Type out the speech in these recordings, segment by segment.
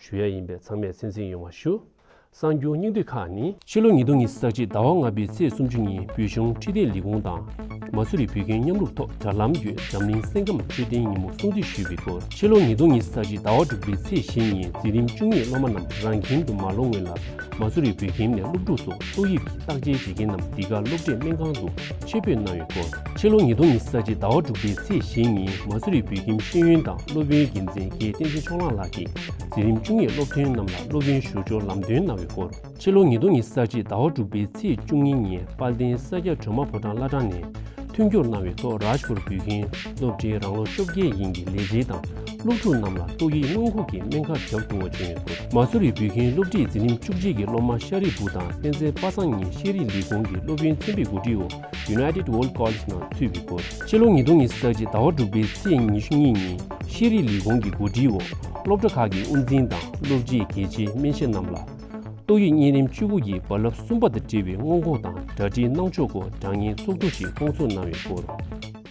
ཞུ་ཡ་ཡིན་པས་ཚང་མས་སེམས་གསེང་ཡོང་བ་ཞུ། གསང་རྒྱུང་སྙིང་བསྡུས་ཁག་ནི། ཕྱི་ལོ་ཉིས་སྟོང་ཉིས་བརྒྱ་ཟླ་བ་ལྔ་པའི་ཚེས་སུམ་ཅུ་ཉིན་བོད་གཞུང་ཁྲི་བརྟན་ལི་ཀོང་དང་མ་སུ་རི་བོད་ཁྱིམ་མཉམ་རུབ་ཐོག་དྲ་ལམ་བརྒྱུད་འཛམ་གླིང་སེམས་ཁམས་འཕྲོད་བསྟེན་ཉིན་མོ་སྲུང་བརྩི་ཞུས་པའི་སྐོར་ཕྱི་ལོ་ཉིས་སྟོང་ཉིས་བརྒྱ་ཟླ་བ་དྲུག་པའི་ཚེས་བཞི་ཉིན་འཛིན་རིམ་བཅུ་གཉིས་སློབ་མ་རྣམས་རང་ཁྱིམ་དུ་མ་ལོག་སྔོན་ལ་མ་སུ་རི་བོད་ཁྱིམ་ནས་སློབ་ཕྲུག་ཚོ་ཏོག་དབྱིབས་ཀྱི་བརྟག་དཔྱད་བྱེད་མཁན་རྣམས་འདི་ག་སློབ་གྲྭས་སྨན་ཁང་དུ་སྤྱོད་འབུལ་གནང་ཡོད་སྐོར། ཕྱི་ལོ་ཉིས་སྟོང་ཉི་ས་གཅིག་ཟླ་བ་དྲུག་པའི་ཚེས་བཞི་ཉིན་མ་སུ་རི་བོད་ཁྱིམ་ཤེས་ཡོན་དང་སློབ་དཔོན་འགན་འཛིན་རྒྱལ་བསྟན་ཆོས་མཆོག་གླང་ལགས་ཀྱིས་འཛིན་རིམ་བཅུ་གཉིས་སློབ་ཐོན་རྣམས་ལ་སློབ་ཡོན་ཞུ་སྦྱོར་ལམ་སྟོན་གནང་ཡོད་སྐོར། ཕྱི་ལོ་ཉིས་སྟོང་ཉི་ས་གཅིག་ཟླ་བ་དྲུག་པའི་ཚེས་བཅུ་གཉིས་ཉིན་དཔལ་ལྡན་ས་སྐྱ་བྲོས་མ་ཕོ་བྲང་བླ་བྲང་ནས་མཐུན་འགྱུར་གནང་བའི་ཐོག་རཱཇ་པུར་བོད་ཁྱིམ་སློབ་གྲྭའི་རང་ལོ་ཤོ་བརྒྱད་ཡིན་གྱི་ལས་བྱེད་དང་སློབ་ཕྲུག་རྣམས་ལ་ཏོག་དབྱིབས་སྔོན་འགོག་གི་སྨན་ཁབ་རྒྱག་ཐུབ་བ་བྱུང་ཡོད་སྐོར། མ་སུ་རི་བོད་ཁྱིམ་སློབ་ཁྲིད་འཛིན་རིམ་བཅུ་གཅིག་གི་སློབ་མ་ཤ་རི་བུ་དང་བསྟན་འཛིན་པ་སངས་གཉིས་ཤེས་རིག་ལས་ཁུངས་ཀྱི་སློབ་ཡོན་ཚན་པའི་གོ་སྒྲིག་འོག United World College ནང་ཚུད་པའི་སྐོར། ཕྱི་ལོ་ཉིས་སྟོང་ཉི་ཤུ་རྩ་གཅིག་ཟླ་བ་དྲུག་པའི་ཚེས་ཉི་ཤུ་གཉིས་ཉིན་ཤེས་རིག་ལས་ཁུངས་ཀྱི་གོ་སྒྲིག་འོག་སློབ་གྲྭ་ཁག་གི་དབུ་འཛིན་དང་སློབ་སྤྱིས་གལ་ཆེའི་སྨན་ཞབས་རྣམས་ལ་ཏོག་དབྱིབས་གཉན་རིམས་བཅུ་དགུ་གི་རྦ་རླབས་གསུམ་པ་དང་འབྲེལ་བའི་སྔོན་འགོག་དང་སྦྲགས་སྦྲིད་སྣང་ཕྱོགས་སྐོར་སྦྲགས་ཉེན་ཚོགས་འདུ་ཞིག་སྐོང་ཚོགས་གནང་ཡོད་སྐོར།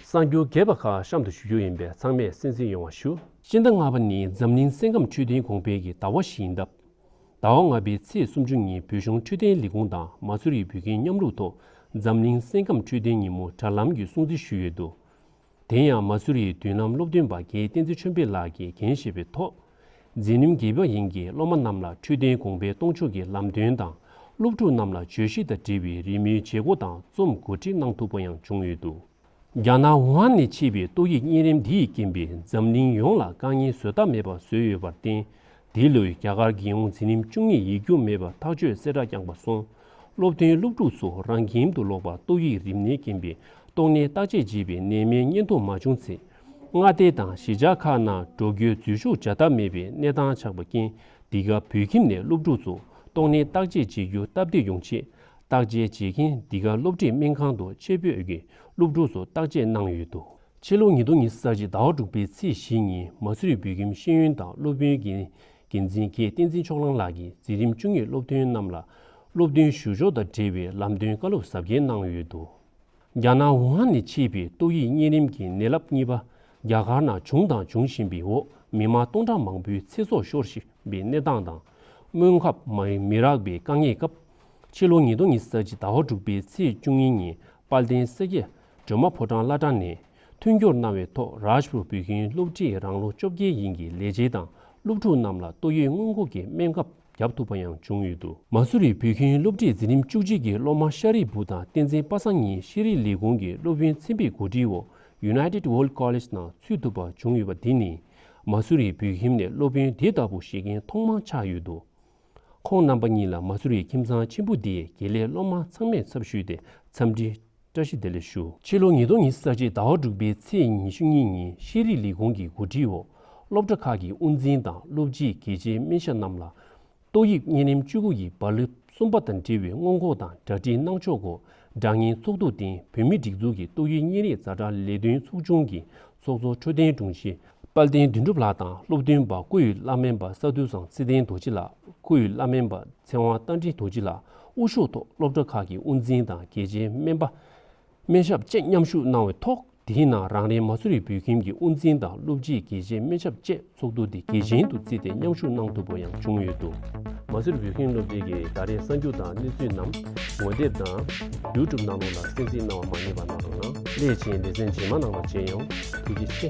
གསར་འགྱུར་རྒྱས་པ་ཁག་གཤམ་དུ་ཞུ་རྒྱུ་ཡིན་པས་ཚང་མས་གསན་གཟིགས་ཡོང་བ་ཞུ། སྤྱི་ཟླ་ལྔ་པ་ནི་འཛམ་གླིང་སེམས་ཁམས་འཕྲོད་བསྟེན་གོང་འཕེལ་གྱི་ཟླ་བ་ཞིག་ཡིན་སྟབས། ཟླ་བ་ལྔ་པའི་ཚེས་སུམ་ཅུ་ཉིན་བོད་གཞུང་འཕྲོད་བསྟེན་ལས་ཁུངས་དང་མ་སུ་རི་བོད་ཁྱིམ་མཉམ་རུབ་ཐོག་འཛམ་གླིང་སེམས་ཁམས་འཕྲོད་བསྟེན་ཉིན་མོ་དྲ་ལམ་གྱི་སྲུང་བརྩི་ཞུས་ཡོད་འདུག་དེ་ཡང་མ་སུ་རིའི་མདུན་ལམ་སློབ་སྟོན་པ་རྒྱའི་བསྟན་འཛིན་ཆོས་འཕེལ་ལགས་ཀྱིས་འགན་བཞེས་པའི་ཐོག་འཛིན་རིམ་བརྒྱད་པ་ཡན་གྱི་སློབ་མ་རྣམས་ལ་འཕྲོད་བསྟེན་དགོངས་པའི་གཏོང་ཕྱོགས་ཀྱི་ལམ་སྟོན་དང་སློབ་ཕྲུག་རྣམས་ལ་བརྗོད་གཞི་དང་འབྲེལ་བའི་རི་མོའི་བྱེད་སྒོ་དང་རྩོམ་གོ་སྒྲིག་གནང་ཐུབ་པ་ཡང་བྱུང་ཡོད་འདུག། རྒྱ་ནག་ཝུ་ཧན་ནས་མཆེད་པའི་ཏོག་དབྱིབས་གཉན་རིམས་འདི་ཡི་རྐྱེན་པས་འཛམ་གླིང་ཡོངས་ལ་དཀའ་ངལ་བཟོད་ཐབས་མེད་པ་བཟོས་ཡོད་པར་བརྟེན་འདི་ལོའི་རྒྱ་གར་རྒྱལ་ཡོངས་འཛིན་རིམ་བཅུ་གཉིས་ཡིག་རྒྱུགས་མེད་པར་ཐག་གཅོད་གསལ་བསྒྲགས་བསྐྱངས་པ་སོང་སློབ་ཐོན་སློབ་ཕྲུག་ཚོ་རང་ཁྱིམ་དུ་ལོག་པར་ཏོག་དབྱིབས་རིམས་ནད་རྐྱེན་པས་ཏོག་ནད་བརྟག་དཔྱད་བྱེད་པའི་ནད་མེད་བསྙེན་ཐུབ་མ་བྱུང་ཚེ་མངའ་སྡེ་དང་གཞིས་ཆགས་ཁག་ནང་འགྲོ་རྒྱུའི་འཛུལ་ཞུགས་བྱ་ཐབས་མེད་པའི་གནས་སྟངས་ཆགས་པ་རྐྱེན་འདི་ག་བོད་ཁྱིམ་ནས་སློབ་ཕྲུག་ཚོ་ཏོག་ནད་བརྟག་དཔྱད་བྱེད་རྒྱུ་སྟབས་བདེ་ཡོང་ཆེད་བརྟག་དཔྱད་བྱེད་མཁན་འདི་ག་སློབ་ཁྲིད་སྨན་ཁང་དུ་ཆེད་ཕེབས་ཀྱིས་སློབ་ཕྲུག་ཚོ་བརྟག་དཔྱད་གནང་ཡོད་འདུག། ཕྱི་ལོ་ཉིས་སྟོང་ཉིས་ས་གཅིག་ཟླ་བ་དྲུག་པའི་ཚེས་བཞི་ཉིན་མ་སུའི་བོད་ཁྱིམ་ཤེས་ཡོན་དང་སློབ་དཔོན་གྱི་འགན་འཛིན་མཁས་བསྟན་འཛིན་མཆོག་ལང་ལགས་ཀྱིས་འཛིན་རིམ་བཅུ་གཉིས་སློབ་ཐོན་རྣམས་ལ་སློབ་ཐོན་ཞུ་ཕྱོགས་དང་འབྲེལ་བའི་ལམ་སྟོན་བཀའ་སློབ་ཟབ་རྒྱས་གནང་ཡོད་འདུག། རྒྱ་ནག་ཝུ་ཧན་ནས་མཆེད་པའི་ཏོག་དབྱིབས་གཉན་རིམས་ཀྱི་ནད་རླབས་གཉིས་པ་རྒྱ་གར་ནང་བྱུང་དང་འབྱུང་བཞིན་པའི་འོག་མི་མང་སྟོང་ཕྲག་མང་པོའི་ཚེ་སྲོག་ཤོར་བཞིན་པའི་གནས་སྟངས་དང། སྔོན་ཁབ་མི་རག་པའི་དཀའ་ངལ་སྐབས། ཕྱི་ལོ་ཉིས་སྟོང་ཉིས་བརྒྱད་ཀྱི་ཟླ་བ་དྲུག་པའི་ཚེས་བཅུ་གཉིས་ཉིན་དཔལ་ལྡན་སེ་གེ་སྒྲོལ་མ་ཕོ་བྲང་བླ་བྲང་ནས་མཐུན་སྦྱོར་གནང་བའི་ཐོག་རཱཇ་པུར་བོད་ཁྱིམ་སློབ་གྲྭའི་རང་ལོ་བཅོ་བརྒྱད་ཡིན་གྱི་ལས་བྱེད་དང་སློབ་ཕྲུག་རྣམས་ལ་ཏོག་དབྱིབས་སྔོན་འགོག་གི་སྨན་ཁབ། བརྒྱབ་ཐུབ་པ་ཡང་བྱུང་ཡོད་འདུག། མ་སུ་རི་བོད་ཁྱིམ་སློབ་ཁྲིད་འཛིན་རིམ་བཅུ་གཅིག་གི་སློབ་མ་ཤ་རི་བུ་དང་བསྟན་འཛིན་དཔའ་བཟང་གཉིས་ཤེས་རིག་ལས་ཁུངས་ཀྱི་སློབ་ཡོན་ཚན་པའི་གོ་སྒྲིག་འོག United World College ནང་ཚུད་ཐུབ་པ་བྱུང་ཡོད་པ་འདི་ནི་མ་སུ་རི་བོད་ཁྱིམ་ནས་སློབ་དཔོན་དེ་ལྟ་བུ་བཞེས་མཁན་ཐོག་མ་ཆགས་ཡོད་འདུག་ཁོང་རྣམ་པ་གཉིས་ལ་མ་སུ་རི་ཁྱིམ་ཚང་ཆེན་པོ་འདིའི་དགེ་ལས་སློབ་མ་ཚང་མས་ཚབ་ཞུས་ཏེ་འཚམས་འདྲི་བཀྲ་ཤིས་བདེ་ལེགས་ཞུ། ཕྱི་ལོ་ཉིས་སྟོང་ཉིས་བརྒྱ་ཟླ་བཅུ་དྲུག་པའི་ཚེས་ཉི་ཤུ་གཉིས་ཉིན་ཤེས་རིག་ལས་ཁུངས་ཀྱི་འགོ་ཁྲིད་འོག་སློབ་གྲྭ་ཁག་གི་དབུ་འཛིན་དང་སློབ་སྤྱིས་གལ་ཆེའི་སྨན་ཞབས་རྣམས་ལ་ཏོག་དབྱིབས་གཉན་རིམས་བཅུ་དགུ་ཡི་བར་ལི་གསུམ་པ་དང་འབྲེལ་བའི་སྔོན་འགོག་དང་སྦྲགས་འདྲི་གནང་ཕྱོགས་སྐོར་སྦྲགས་སྙན་ཚོགས་ཐུགས་རྟེན་བོད་མིའི་སྒྲིག་འཛུགས་ཀྱི་ཏོག་དབྱིབས་གཉན་རིམས་བཟའ་བཅའ་ལས་དོན་ཚོགས་ཆུང་གི་ཚོགས་གཙོ་འཕྲོད་བསྟེན་དྲུང་ཆེ་དཔལ་ལྡན་དོན་གྲུབ་ལགས་དང་སློབ་སྟོན་པ་སྐུ་ཡི་བླ་སྨན་པ་ས་འདུལ་ཟང་ཚེ་བརྟན་རྡོ་རྗེ་ལགས་སྐུ་ཡི་བླ་སྨན་པ་ཚེ་དབང་རྟ་མགྲིན་རྡོ་རྗེ་ལགས་དབུ་ཤོག་ཐོག་སློབ་གྲྭ་ཁག་གི་དབུ་འཛིན་དང་གལ་ཆེའི་སྨན་པ་སྨན་ཞབས་བཅས་མཉམ་ཞུགས་གནང་བའི་ཐོག་དེའི་ནང་རང་རེའི་མ་སུ་རི་བོད་ཁྱིམ་གྱི་དབུ་འཛིན་དང་སློབ་སྤྱི་གལ་ཆེའི་སྨན་ཞབས་བཅས་ཚོགས་འདུ་འདི་གལ་ཆེན་དུ་བརྩིས་ཏེ་མཉམ་ཞུགས་གནང་ཐུབ་པ་ཡང་བྱུང་ཡོད་འདུག། མ་ཟུར་བོད་ཁྱིམ་སློབ་ཆེན་གྱི་ད་རེས་གསར་འགྱུར་དང་གནས་ཚུལ་རྣམས་ངོ་དེབ་དང། YouTube གནང་ལུགས་ལ་གསན་གཟིགས་གནང་བ་མ་རྙེད་པ་གནང་རོགས་གནང། སླད་ཕྱིན་ལེ་ཚན་རྗེས་མ་གནང་བ་བྱེད་ཡོང། ཐུགས་རྗེ་ཆེ།